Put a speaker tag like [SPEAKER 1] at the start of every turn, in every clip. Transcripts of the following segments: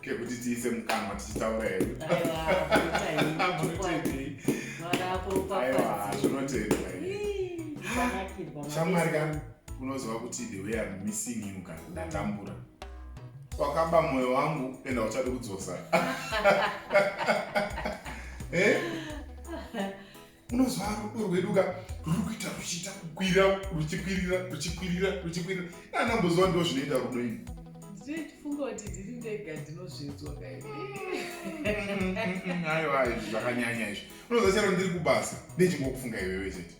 [SPEAKER 1] kekuti tiise mukanwa tichitaura hedu zvinotendwa shamwari ka unoziva kuti the way am missing you ka ndatambura wakaba mwoyo wangu enda uchadi kudzosa eh? unozwa rudo rwedu ka ruri kuita ruchiita kukwira ruchikwirira ruchikwirira ruchikwirira anamboziva ndo zvinoita rudo ini ndichifunga
[SPEAKER 2] kuti ndiri ndega ndinozvinzwa kaiaiwa
[SPEAKER 1] izvi zvakanyanya izvi unozva chero ndiri kubasa ndechingokufunga iwewe chete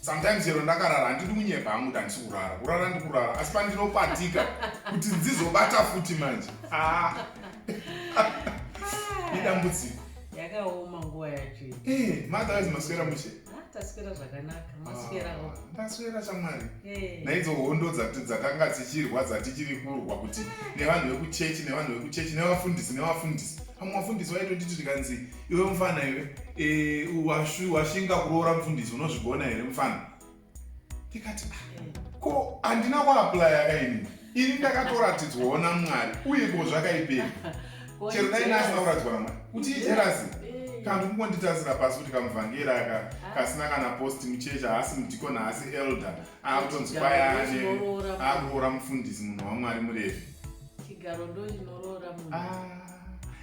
[SPEAKER 1] sometimes chero ndakarara handidi kunyepa hangu kuti handisi kurara kurara ndikurara asi pandinopatika kuti ndizobata futi manje ah. idambudziko yakaoma
[SPEAKER 2] nguva yacho eh, maatawaizi
[SPEAKER 1] maswera mushe ah, taswera zvakanaka
[SPEAKER 2] ah, maswerao taswera chamwari
[SPEAKER 1] eh. naidzo hondo dzatanga dzichirwa dzatichiri kurwa kuti ah. nevanhu vekuchechi nevanhu vekuchechi nevafundisi nevafundisi pamwe vafundisi vaitotiti tikanzi iwe mufana iwe eh, washinga kuroora mufundisi unozvigona here mufana ndikati ah, ko handina kuaplaya kaini ini ndakatoratidzwawo namwari uye ko zvakaipei chero dai naasina kuratidzwa namwari kuti ijerasi eh. kanhu kungonditasira pasi kuti kamuvhangeri aka ah. kasina kana post muchechi haasi mudikoni haasi elder akutonzi kwayane akuroora mufundisi munhu wamwari murevi chigaro ndo
[SPEAKER 2] chinoroora munhu ah,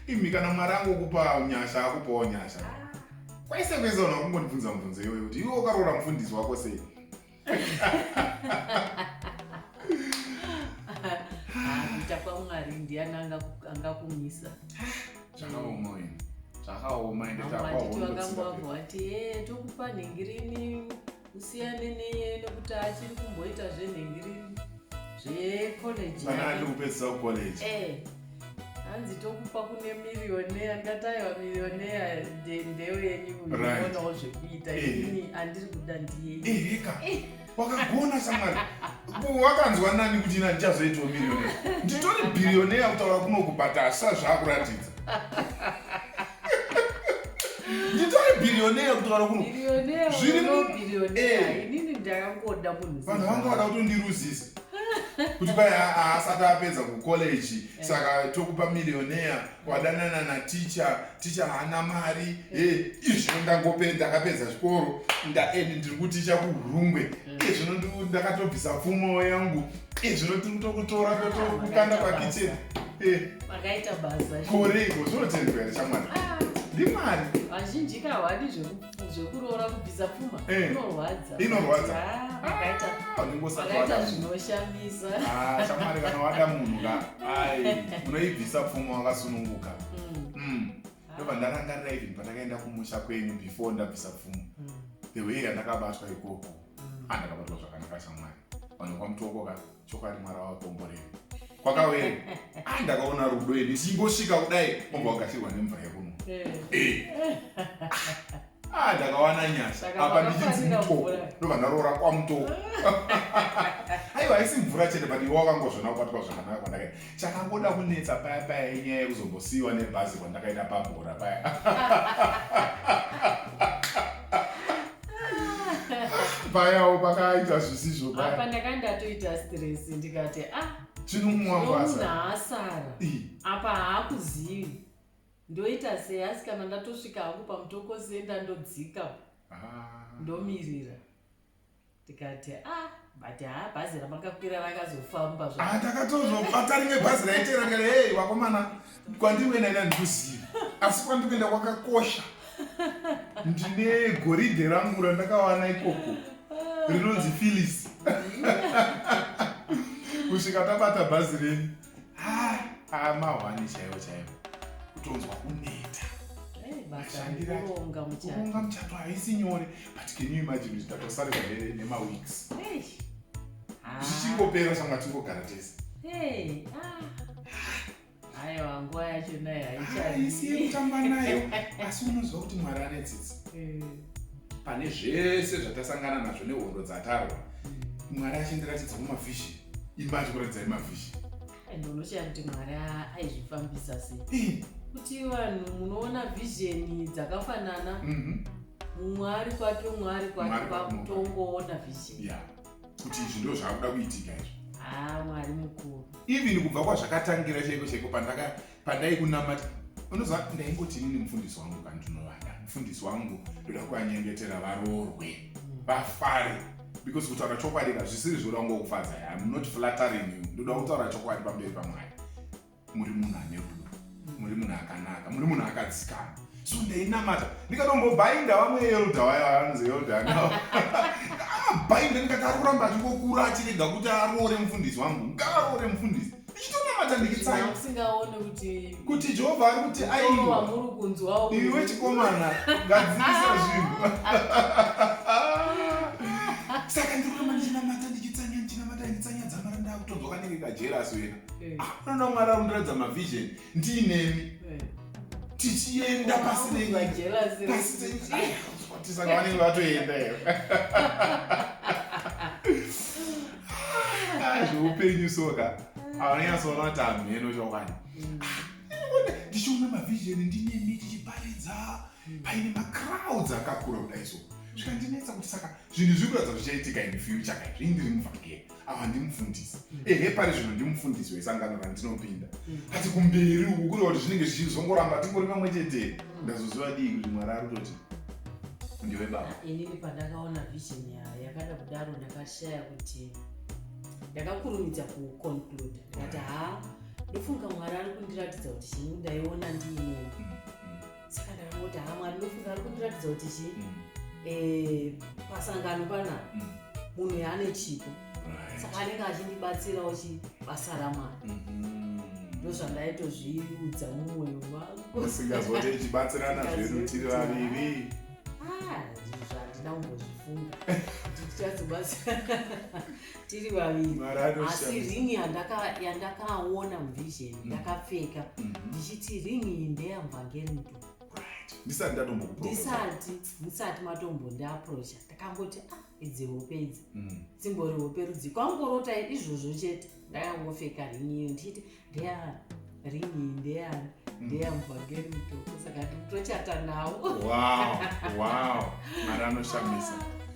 [SPEAKER 2] imi kana
[SPEAKER 1] mwari angokupa nyasha akupawo nyasha ah. kwaise kuisa vanhu vakungondibvunza mubvunzo iyoyo kuti iwe wakaroora mufundisi wako sei kuita
[SPEAKER 2] kwamwari ndiani angakumisa
[SPEAKER 1] zvakaoma ini zvakaoma ende takwahondoti vangambwabva
[SPEAKER 2] vati e tokupa nhingirini usiyane neye nekuti achiri kumboita zvenhingiri zvecollege kana ari kupedzisa
[SPEAKER 1] kucollege eh, hanzi
[SPEAKER 2] tokupa kune mirioneya ndati aiwa mirioneya ndeyo yenyu uonawo zvekuita eh. ini andiri kuda ndiyeika eh,
[SPEAKER 1] wakagona samwari wakanzwa nani kuti ina ndichazoitwa mirioneya nditori birioneya kutaura kunokubhata asazvakuratidza nditori bhirioneya kuti kana kuno zviri muinini eh.
[SPEAKER 2] ndakangoda munhu vanhu vanga vada kutondiruzisa
[SPEAKER 1] kuti kwai haasati apedza kucollege eh. saka tokupa mirioneya wadanana naticha ticha haana mari e eh. eh, izvino ndangopedza akapedza chikoro ndaendi ndiri kuticha kuhurungwe izvino ndakatobvisa pfumo yangu Izvino tiri kutokutora kutokukanda pakitchen. Eh. Makaita
[SPEAKER 2] basa. Koreko zvinotendwa
[SPEAKER 1] here chamwana? Ah. Ndimari. Vazhinji ka
[SPEAKER 2] hwadi zvekuroora kubvisa pfuma eh. inorwadza. Inorwadza.
[SPEAKER 1] Ah, makaita.
[SPEAKER 2] Ah, makaita zvinoshamisa. Ah, chamwana kana
[SPEAKER 1] wada munhu ka. Ai, unoibvisa pfuma wakasununguka. Mm. Mm. Ndoba ndarangarira even pandakaenda kumusha kwenyu before ndabvisa pfuma. Mm. The way yandakabatwa ikoko. hana kabatwa zvakanaka shamwari vanhu kwamutokoka chokwadi mwari wavakomborei kwakawere ai ndakaona rudo ini chingosvika kudai omba wakashirwa nemvura yekunwa eh. ah, ndakawana nyasha apa ndichinzi mutoko ndobva ndaroora kwamutoko aiwa haisi mvura chete but iwe wakangozvona kubatwa zvakanaka kwandakaita chakangoda kunetsa paya paya inyaya yekuzombosiyiwa nebhazi kwandakaita pabhora paya payawo pakaita zvisizvo papa ndaka ndatoita stress
[SPEAKER 2] ndikati a ah,
[SPEAKER 1] chinumwangwasaasara
[SPEAKER 2] apa haakuzivi ndoita sei asi kana ndatosvika hangu pamutokosenda ndodzika ah. ndomirira tikati ah but haa bhazi ramakakwira rakazofamba ah, takatozobata
[SPEAKER 1] rimwe bhazi raitera kare hey vakomana kwandiwena ina ndikuziva asi kwandikuenda kwakakosha ndine goridhe rangu randakawana ikoko rinonzi phillis kusvika tabata bhazi renyu ah, ah, mahwani chaiwo chaiwo kutonzwa kuneta kuronga muchato haisi nyore but can you imagine kuti tatosarika nemaweeks ah. zvichingopera shamwa tingogara tese
[SPEAKER 2] aiwa nguva yacho nayo haichaisi yekutamba
[SPEAKER 1] nayo asi unoziva kuti mwari ane tsitsi eh. pane zvese zvatasangana nazvo nehondo dzatarwa mwari achindiratidza mumavhishini imba achikuratidzai mafishi and unoshaya kuti
[SPEAKER 2] mwari aizvifambisa sei kuti vanhu munoona vhizheni dzakafanana mhm. mumwe ari kwake umwe ari kwake kwakutongoona vhizheni kuti izvi
[SPEAKER 1] ndo zvaakuda kuitika izvi ah, mwari
[SPEAKER 2] mukuru even kubva
[SPEAKER 1] kwazvakatangira chaiko chaiko pandaka pandai kunamata unoziva ndaingoti inini mufundisi wangu kandinovada mufundisi wangu ndoda kuvanyengetera varoorwe mm. vafare because kutaura chokwadi ka zvisiri zvoda kunge kufadza ya im not flattering you ndoda kutaura chokwadi pamberi pamwari muri munhu ane rudo muri munhu akanaka muri munhu akadzikama so ndainamata ndikatombobainda vamwe elda waya vanzi elda nao amabainda ndikati ari kuramba achingokura achirega kuti aroore mufundisi wangu ngaaroore mufundisi ndichitonamata ndikitsai
[SPEAKER 2] kuti jehovha ari kuti
[SPEAKER 1] aiwa
[SPEAKER 2] iwe chikomana
[SPEAKER 1] ngadzivisa zvinhu saka ndiri kuramba ndichinamata ndichitsanya ndichinamata nditsanya dzamaranda akutonzwa kanenge kajerasi wena eh. anoda ah, mwari arundiradza mavision ndiinemi tichienda pasi nenyikatisaa vanenge vatoenda here zveupenyu soka avanyanyasoona kuti hamheno chokwadi mm. ndichiona mavision ndinemi tichiparidza mm. paine macrowds akakura kudai so zvikandinetsa kuti saka zvinhu zviri kuratidza zvichaitika in future kai zvii ndiri muvhangeri ava ndimufundisi mm. ehe pari zvino ndimufundisi wesangano randinopinda mm. ati kumberi uku kureva kuti zvinenge zvichizongoramba tingori pamwe chetee mm. ndazoziva dii kuti mwari ari kutoti ndiwe baba ah, inini pandakaona
[SPEAKER 2] vision yayo yakada kudaro ndakashaya kuti ndakakurumidza kuconclude ndikati haa ndofunga mwari ari kundiratidza kuti chini ndaiona ndiinini saka ndakangoti haa mwari ndofunga ari kundiratidza kuti chii mm. eh, pasangano pana mm. munhu yaane chipo saka anenge achindibatsirawo chi basa ramwari mm-hmm. ndozvandaitozviudza mumwoyo wangu singazote
[SPEAKER 1] ichibatsirana zvedu tiri vaviri ah,
[SPEAKER 2] zvandina kumbozifunga kuti tichazobatsirana tiri vaviri asi ring yandakaona muvision mm. ndakapfeka mm-hmm. ndichiti ring iyi ndeyamvangerudo ndisati ndatombokudisati ndisati matombondiaprocha ndakangoti ah idzi hope idzi mm. dzimbori hope rudzi kwangorota izvozvo chete ndakangopfeka ring iyo ndichiti ndeyani ring iyi ndeyani mm. ndeyamvangerudo
[SPEAKER 1] saka
[SPEAKER 2] tochata nawo wow wow
[SPEAKER 1] mari
[SPEAKER 2] anoshamisa